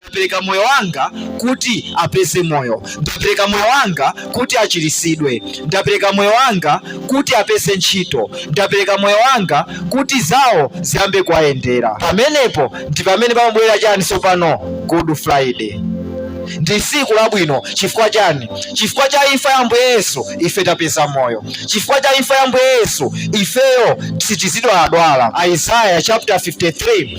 Ndapereka moyo wanga kuti apeze moyo. Ndapereka moyo wanga kuti achiritsidwe. Ndapereka moyo wanga kuti apeze ntchito. Ndapereka moyo wanga kuti zawo ziyambe kuwayendera. Pamenepo ndi pamene pamabwera chani tsopano? Good Friday. Ndi tsiku labwino chifukwa chani? Chifukwa cha imfa ya Ambuye Yesu ife tapeza moyo. Chifukwa cha imfa ya Ambuye Yesu ifeyo sitizidwaladwala. Isaiah chapter 53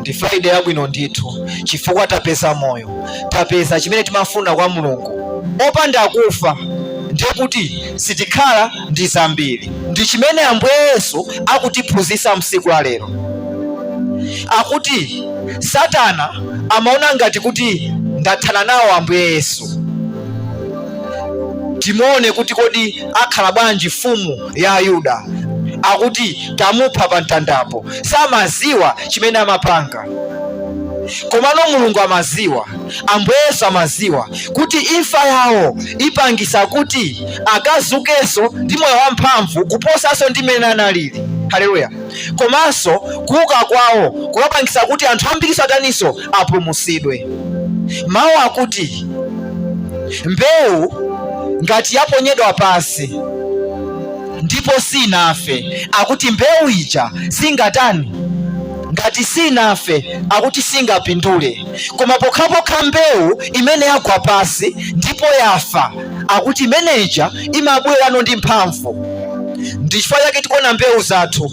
ndi friday yabwino ndithu chifukwa tapeza moyo tapeza chimene timafuna kwa mulungu opanda kufa ndiye kuti sitikhala ndi zambiri ndi chimene ambuye yesu akutiphunzitsa msiku la lero akuti satana amaona ngati kuti ndathana nawo ambuye yesu timuone kuti kodi akhala bwanji mfumu ya Ayuda akuti tamupha pa mtandapo, samaziwa chimene amapanga komano mulungu amaziwa ambuye yesu amaziwa kuti imfa yawo ipangisa kuti akazukeso ndi moyo wamphamvu kuposaso ndi mmene analili haleluya komanso kuuka kwawo kukapangisa kuti anthu ambiriso ataniso apulumutsidwe. Mawu akuti mbewu ngati yaponyedwa pansi ndipo sinafe, akuti mbewu ija singatani ngati sinafe akuti singapindule, koma pokhapokha mbewu imene yagwa pansi ndipo yafa akuti imeneja imabwerano ndi mphamvu. Ndi chifukwa chake tikuona mbewu zathu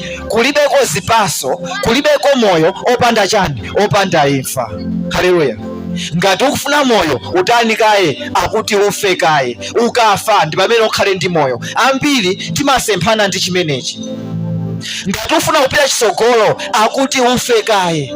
kulibeko zipaso kulibeko moyo opanda chani opanda imfa haleluya ngati ukufuna moyo utani kaye akuti ufe kaye ukafa ndi pamene ukhale ndi moyo ambiri timasemphana ndi chimenechi ngati ufuna kupita chisogolo akuti ufe kaye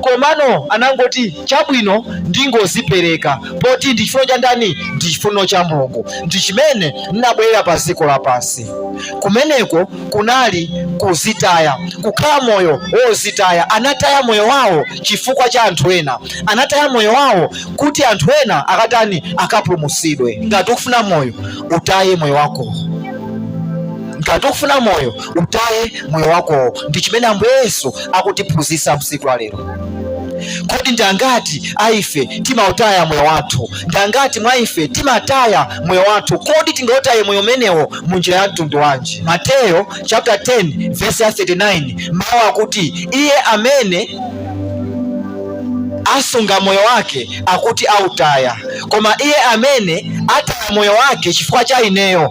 komano anangoti chabwino ndingozipereka poti ndi chifuno cha ndani ndi chifuno cha mulungu ndi chimene ndinabwerera pa dziko lapansi kumeneko kunali kuzitaya kukhala moyo wozitaya anataya moyo wawo chifukwa cha anthu ena anataya moyo wawo kuti anthu ena akatani akapulumutsidwe ngati ukufuna moyo utaye moyo wako ngati ukufuna moyo utaye moyo wakowo ndi chimene ambuye yesu akutiphunzitsa msiku la lero kodi ndi angati a ife timautaya moyo wathu ndi angati mwa ife timataya moyo wathu kodi tingautaye moyo umenewo mu njira ya mtundu wanji mateyo chapter 10 verse 39 mawu akuti iye amene asunga moyo wake akuti autaya koma iye amene ataya moyo wake chifukwa cha ineyo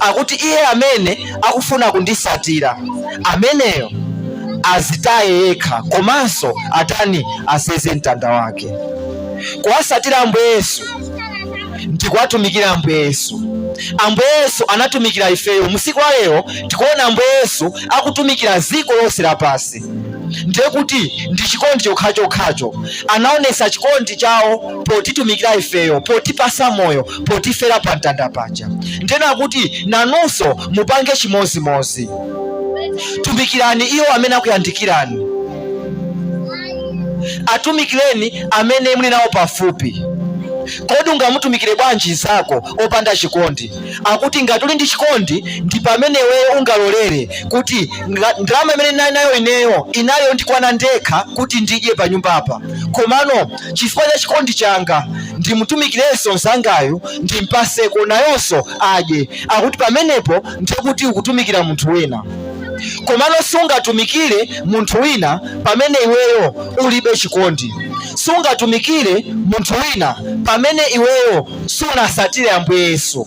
akuti iye amene akufuna kundisatira ameneyo azitaye yekha komanso atani aseze mtanda wake kuwasatira ambuye yesu ndikuwatumikira ambuye yesu ambuye yesu anatumikira ifeyo musiku wa lero tikuona ambuye yesu akutumikira ziko lonse lapansi ndiye kuti ndi chikondi chokhachokhacho anaonesa chikondi chawo potitumikira ifeyo potipasa moyo potifera pa mtanda paja ndena kuti nanunso mupange chimozimozi tumikirani iwo amene akuyandikirani atumikireni amene muli nawo pafupi kodi ungamutumikire bwanji nzako opanda chikondi akuti ngati uli ndi chikondi ndi pamene iweyo ungalolere kuti ndalama imene ndinali nayo ineyo inali yondikwana ndekha kuti ndidye pa nyumbapa komano chifukwa cha chikondi changa ndimutumikirenso mzangayu ndimpaseko nayonso adye akuti pamenepo ndikuti ukutumikira munthu wina komano sungatumikire munthu wina pamene iweyo ulibe chikondi sungatumikire munthu wina pamene iweyo sunasatire ambuye yesu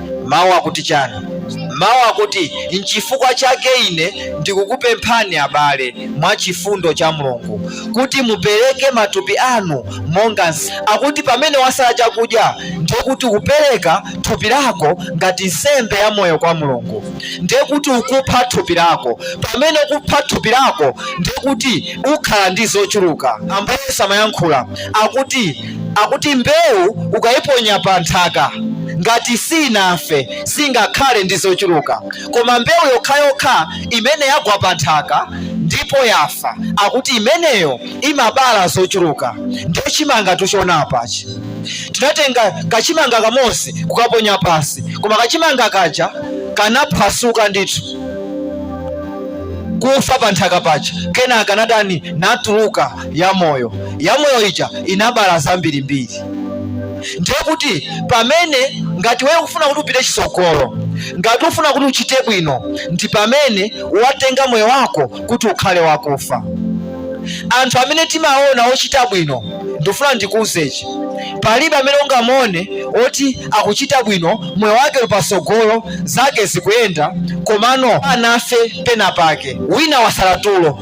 Mawu akuti chani? Mawu akuti, N'chifukwa chake ine ndikukupemphani abale, mwa chifundo cha Mulungu, kuti mupereke matupi anu monga. Akuti pamene wasala chakudya ndiye kuti ukupereka thupi lako ngati nsembe ya moyo kwa Mulungu, ndiye kuti ukupha thupi lako. Pamene ukupha thupi lako ndiye kuti ukhala ndi zochuluka. Ambuye Yesu amayankhula akuti Akuti mbewu ukaiponya panthaka, ngati siinafe singakhale ndi zochuluka. Koma mbewu yokhayokha imene yagwa panthaka ndipo yafa, akuti imeneyo imabala zochuluka. Ndiye chimangatu tikuchiona apachi, tinatenga kachimanga kamodzi kukaponya pansi, koma kachimanga kaja kanaphwasuka ndithu kufa panthaka paja, kenaka natani? Natuluka. yamoyo yamoyo ija inabala zambirimbiri ndiye kuti pamene ngati wewe ufuna kuti upite chisogolo ngati ufuna kuti uchite bwino ndi pamene watenga moyo wako kuti ukhale wakufa anthu amene timaona ochita bwino ndifuna ndikuuzechi palibe amene ungamuone oti akuchita bwino moyo wake uli pasogolo zake zikuyenda komano asanafe pena pake wina wasala tulo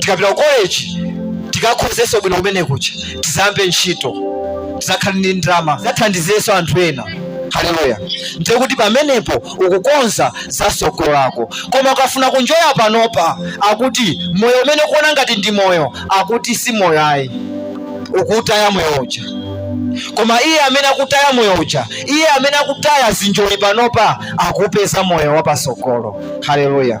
tikapita ku college tikakhozeso bwino kumene kuja tizambe ntchito tizakhale ndi ndalama tizathandizeso anthu ena haleluya ndiye kuti pamenepo ukukonza za sogolo lako koma ukafuna kunjoya panopa akuti moyo umene ukuona ngati ndi moyo akuti si moyo ayi ukutaya moyo uja koma iye amene akutaya moyo uja iye amene akutaya zinjoli panopa akupeza moyo wapasogolo haleluya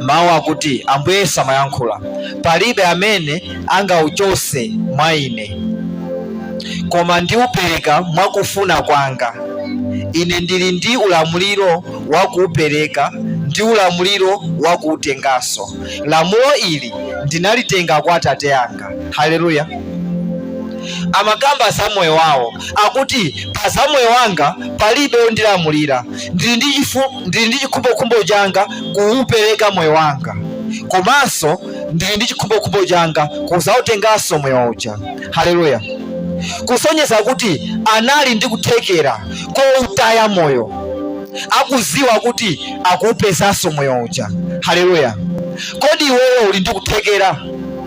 mawu akuti ambuye yesu amayankhula palibe amene angauchose mwa ine koma ndiupereka mwakufuna kwanga ine ndili ndi ulamuliro wakuupereka ndi ulamuliro wakuutenganso lamulo ili ndinalitenga kwa atate anga haleluya amakamba za moyo wawo akuti pa za moyo wanga palibe ondilamulira ndili ndi chifu ndili ndi chikhumbokhumbo changa kuupereka moyo wanga komanso ndili ndi chikhumbokhumbo changa kuzautenganso moyo uja haleluya kusonyeza kuti anali ndi kuthekera koutaya moyo akuziwa kuti akuupezanso moyo uja haleluya kodi iweyo uli ndi kuthekera